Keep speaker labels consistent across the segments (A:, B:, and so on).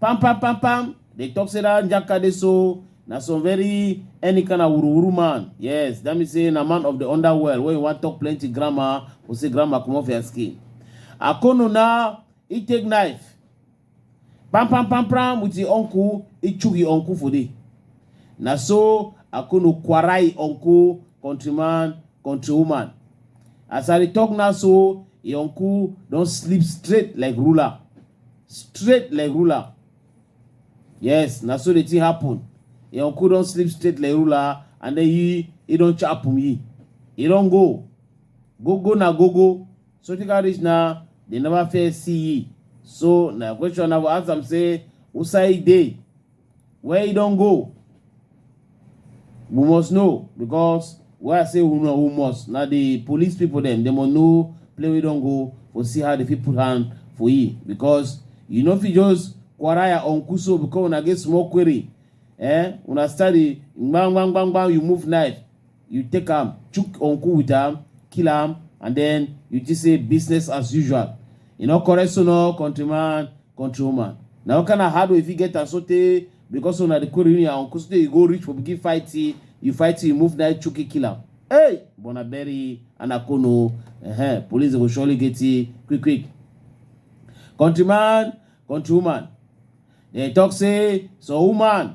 A: pam pam pam pam they talk say that njaka dey so na some very any kind of wuruwuru man yes that mean say na man of the underworld wey you wan talk plenty grammar go say grammar comot for your skin akono na he take knife pam pam pam pam with him uncle he chook him uncle for there na so akono kwara him uncle countryman countrywoman as i dey talk now so him uncle don sleep straight like ruler straight like ruler yes na so the thing happen im uncle don sleep straight like ruler and then he he don chop him he he don go go go na go go so take out reach na they never fair see ye so na question i go ask am say who side dey Where he don't go? We must know because where I say we know we must. Now the police people them they must know play we don't go for see how the people hand for he because you know if you just quaraya on kuso because when I get small query, eh? When I study bang bang bang bang you move knife. you take am chook uncle with am kill am and then you just say business as usual you know correct so no countryman countrywoman na what kind of hard way fit get am so tey because so na the quarrel you and uncle so tey you go reach for begin fight you you fight you move na chook kill am hey bona bury anakono uh -huh. police go surely get you quick quick countryman countrywoman dem talk say so woman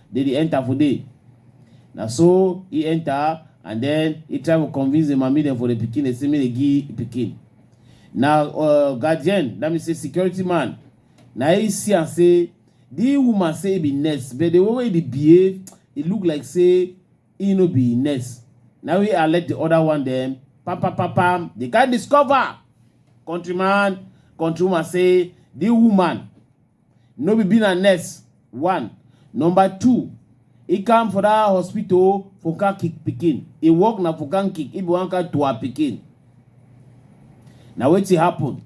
A: Dey dey enter for dey. Na so he enter and then he try to convince the mami dem for the pikin dey say make dey give pikin. Na uh, guardian, that means say security man, na he see am say the woman say he be nurse but the way wey he dey behave, e look like say he no be nurse. Na we alert the other one dem, pam pam pam pam, they can discover. Countryman, countrywoman say the woman no be being a nurse one number two e come for that hospital for car kick pikin e work na for car kick e be one car to her pikin na wetin happen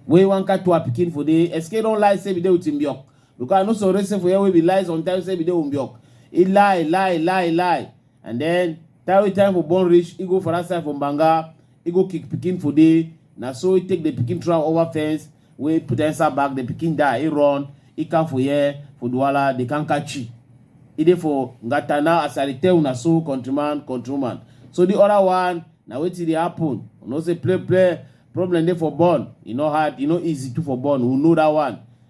A: wey one car to her pikin for dey sk don lie say be dey with him biok because i no sorry say for here wey be lie sometimes say be dey with biok e lie lie lie lie and then time wey time for born reach e go for that side for banga e go kick pikin for there na so e take the pikin throw am over fence wey put am inside bag the pikin die e run e come for here for duwala they come catch you e dey for ngata now as i dey tell una so countryman countrywoman so the other one na wetin dey happen you know say play play problem dey for born e no hard e no easy too for born we know that one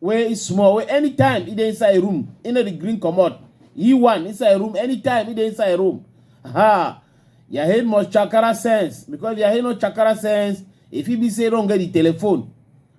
A: wey e small wey anytime e dey inside room e no dey gree comot e one inside room anytime e dey inside room ha your head must chakara sense because your head no chakara sense e fit be say e don get the telephone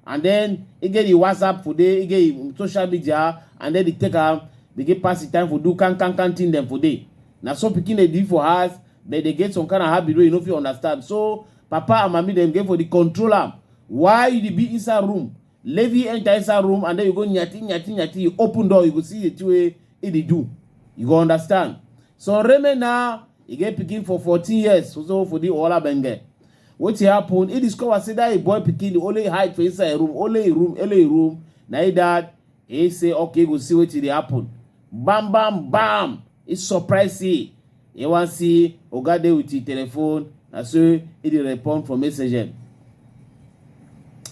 A: and then e get the whatsapp for there e get the social media and then e take am begin pass the time for do can can can thing dem for there na so pikin dey do for house but dey get some kind of habit wey you no fit understand so papa and mami dem get for the control am why you dey be inside room Levi enter inside room and then you go nyati nyati nyati. You open door, you go see the two way he dey do. You go understand. So Reme now, he get picking for 14 years. So, so for the Ola Benge. What happened? He discovered say that a boy picking only hide for inside a room, only a room, only a room. Now he dad, he say, okay, go see what it happen. Bam, bam, bam. It's surprising. e wan see oga dey with him telephone na so e dey respond for message dem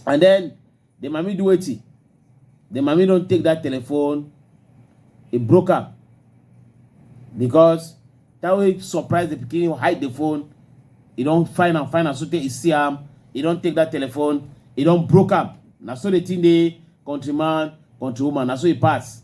A: and then the mami do wetin the mami don take that telephone e broke am because that way surprise the pikin hide the phone e don find am find am so tey e see am e don take that telephone e don broke am na so the thing dey countryman countrywoman na so e pass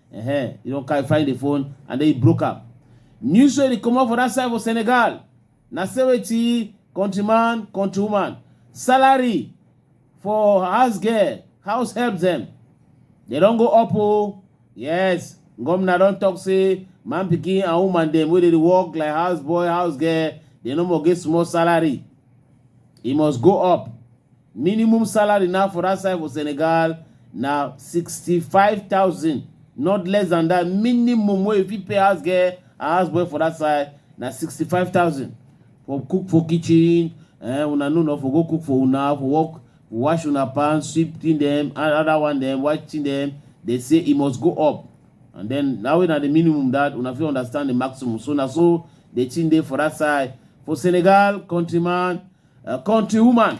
A: Uh-huh. You don't carry find the phone and then you broke up. News story come up for that side for Senegal. Na seventy countryman, countrywoman. Salary for house girl, house help them. They don't go up oh. Yes, governor don't talk say man picking and woman them where they work like house boy, house girl. They no more get small salary. It must go up. Minimum salary now for dat side for Senegal na sixty five thousand not less than dat minimum wey you fit pay house girl and house boy for dat side na sixty five thousand for cook for kitchen eh una know na for go cook for una for work wash una pants sweep thing dem and other one dem wash thing dem dey say e must go up and then na wey na the minimum dat una fit understand the maximum so na so the thing dey for dat side for Senegal countryman eh, country woman.